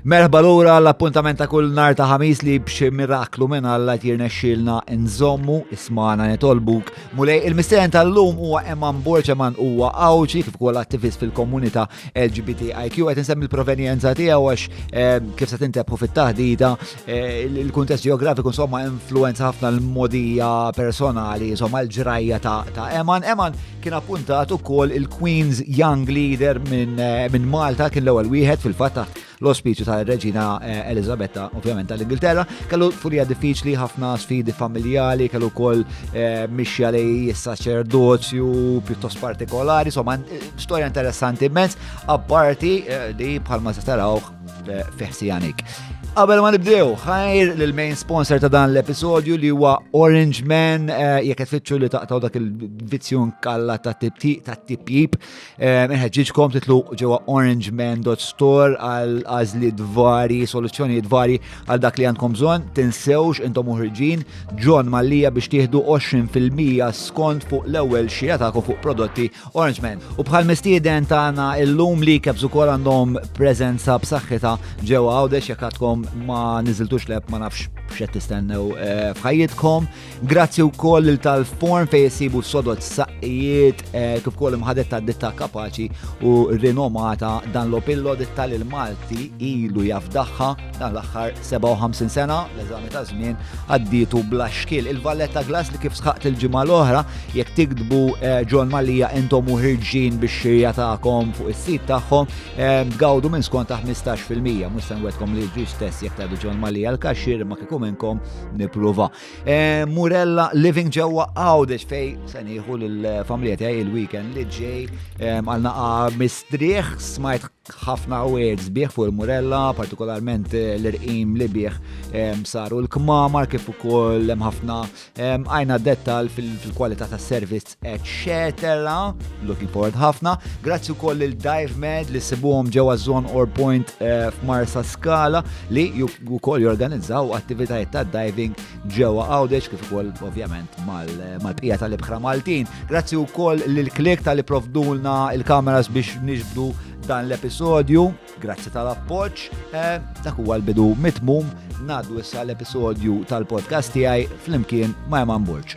Merħba lura għall-appuntament ta' kull nar ta' ħamis li b'xi miraklu minn Alla tirnexxilna nżommu ismana nitolbuk. Mulej il-mistieren tal-lum huwa Eman Borċ Eman huwa għawċi kif ukoll attivist fil-komunità LGBTIQ qed insemmi l-provenjenza tiegħu għax eh, kif se tintebħu fit-taħdita eh, il-kuntest ġeografiku insomma influenza ħafna l-modija personali insomma l-ġrajja ta' Eman. Eman Kien appuntat ukoll il-Queen's Young Leader minn eh, min Malta kien l-ewwel wieħed fil-fatt taħt l-ospiċu tal-Reġina eh, Elizabetta, ovvjament tal-Ingilterra. Kellu furija diffiċli, ħafna sfidi familjali, kellu wkoll eh, mixja li saċerdozju pjuttost partikolari, insomma storja interessanti immens, apparti li bħalma se tarawh fiħsijanik. Qabel ma nibdew, ħajr l-main sponsor ta' dan l-episodju li huwa Orange Man, eh, jekk qed fitxu li taqtaw dak il-vizzjun kalla ta' tiptip ta' tipjip, eh, inħeġġiġkom titlu ġewwa orangeman.store għal għażliet vari, soluzzjonijiet vari għal dak li għandkom bżonn, tinsewx intom uħriġin John Mallija biex tieħdu 20% skont fuq l-ewwel xija tagħkom fuq prodotti Orange Man. U bħal mistieden tagħna illum li kebs ukoll għandhom preżenza b'saħħitha ġewwa għawdex jekk għadkom ma niżiltux leb ma nafx x'qed tistennew eh, f'ħajjitkom. Grazzi wkoll lil tal-form fejn isibu sodod saqqijiet eh, kif ukoll imħadet ta' ditta kapaċi u rinomata dan l-opillo ditta l Malti ilu jafdaħħa Dan l-aħħar 57 sena l-eżami ta' żmien għaddietu bla xkil. Il-Valletta Glass li kif sħaqt il-ġimgħa l-oħra jekk tikdbu eh, John Malija intom u ħirġin biex xirja tagħkom fuq is-sit tagħhom eh, tgawdu minn skont ta' 15% mhux se nwedkom li ġi stess jekk tgħidu John Malija l-kaxxir ma kieku minnkom nippruva. Eh, Murella Living ġewwa Għawdex fej se nieħu lill-familja tiegħi il-weekend li ġej għal naqa' mistrieħ smajt Ħafna wegħed sbieħ fuq il-Murella, partikolarment eh, l-irqim li bih eh, saru l-kmamar kif ukoll hemm ħafna eh, għajna dettal fil-kwalità tas servizz eċċetera. Looking forward ħafna. Grazzi wkoll lil Dive Med li sibuhom ġewwa Zone or Point f'Marsa Skala li wkoll jorganizzaw attivitajiet ta' diving ġewwa Għawdex kif ukoll ovvjament mal-bqija tal-ibħra Maltin. Grazzi wkoll lil klik tal provdulna il-kameras biex niġbdu dan l-episodju. Grazzi tal-appoġġ. Eh, dak huwa l-bidu mitmum ngħaddu issa l-episodju tal-podcast tiegħi flimkien ma' Eman Burġ.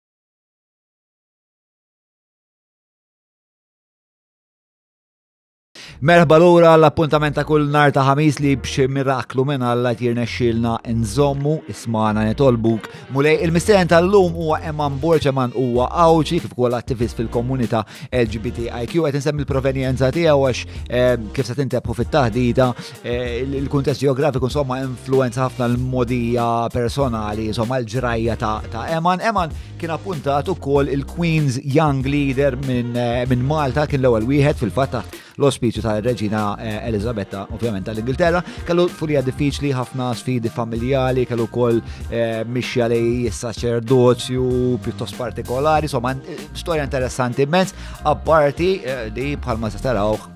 Merħba lura l-appuntament ta' kull nar ta' ħamis li b'xi miraklu minn Alla tirna xilna nżommu ismana nitolbuk. Mulej il-mistieren tal-lum huwa Eman Borċ Eman huwa għawċi kif ukoll attivist fil-komunità LGBTIQ qed insemmi l-provenjenza tiegħu għax eh, kif se tintebħu fit-taħdita Eh, il-kuntest ġeografiku insomma influenza ħafna l-modija personali, insomma l-ġrajja ta' Eman. Eman kien appuntat ukoll il-Queen's Young Leader minn eh, Malta, kien l-ewwel wieħed fil-fatta l-ospiċu tal-Reġina eh, Elizabetta, ovvjament tal-Ingilterra, kellu furija diffiċli, ħafna sfidi familjali, kellu kol mixja li saċerdozju pjuttost partikolari, insomma, storja interessanti immens, apparti li bħalma se tarawh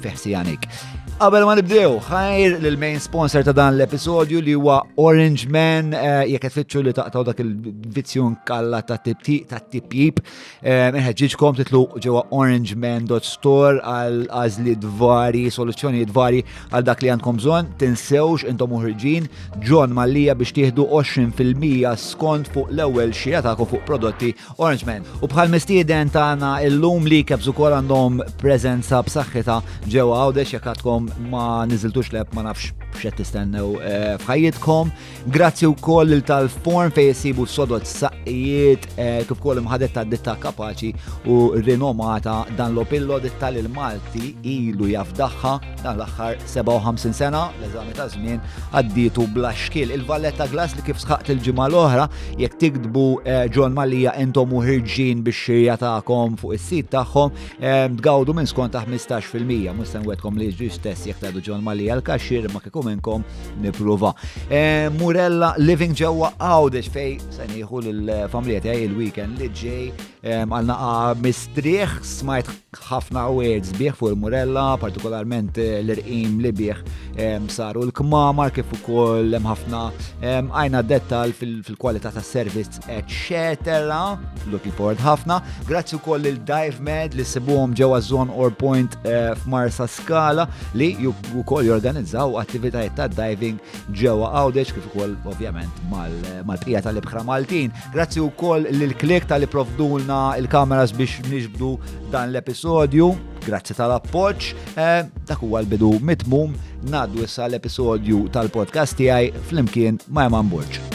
fiħsijanik. Qabel ma nibdew, ħajr l-main sponsor ta' dan l-episodju li huwa Orange Man, eh, jekk qed fitxu li taqtaw dak il-vizzjun kalla ta' tiptip ta' tipjip, eh, ħeġġiġkom titlu ġewwa orangeman.store għal għażliet vari, soluzzjonijiet vari għal dak li għandkom bżonn, tinsewx intom uħriġin John Mallija biex tieħdu 20% skont fuq l-ewwel xija tagħkom fuq prodotti Orange Man. U bħal mistieden tagħna illum li kebs ukoll għandhom preżenza b'saħħitha ġewwa għawdex jekk għadkom ma niżiltux leb ma nafx x'qed tistennew eh, f'ħajjitkom. Grazzi wkoll lil tal-form fejn isibu sodod saqqijiet eh, kif ukoll imħadet ta' ditta kapaċi u rinomata dan l-opillo ditta l Malti ilu jafdaħħa dan l-aħħar 57 sena, l-eżami ta' żmien għaddietu bla xkiel. Il-Valletta Glass li kif sħaqt il-ġimgħa l-oħra, jekk tiktbu eh, John Malija intom u ħirġin biex xirja tagħkom fuq is-sit tagħhom, eh, tgawdu minn skont ta' 15%. Mhux se nwedkom li ġri stess jekk tgħidu John Malija l-kaxxir ma kieku minnkom nippruva. Eh, Murella Living ġewwa Għawdex fej se nieħu lill-familja tiegħi il-weekend li ġej Għal naqa mistrieħ smajt ħafna words bih fuq il-murella, partikolarment eh, l-irqim li bih saru l-kmamar kif ukoll hemm ħafna għajna dettal fil-kwalità tas servizz eċċetera. Lucky Port ħafna. Grazzi wkoll il Dive Med li sibuhom ġewwa Zone or Point eh, f'Marsa Skala li wkoll jorganizzaw attivitajiet ta' diving ġewwa Għawdex kif ukoll ovvjament mal-bqija tal-ibħra Maltin. Grazzi u koll l-klik tal-li provdulna il-kameras biex nixbdu dan l-episodju. Grazzi tal-appoċ. Eh, dak huwa l-bidu mitmum naddu issa l-episodju tal-podcast tiegħi flimkien ma' Eman Burġ.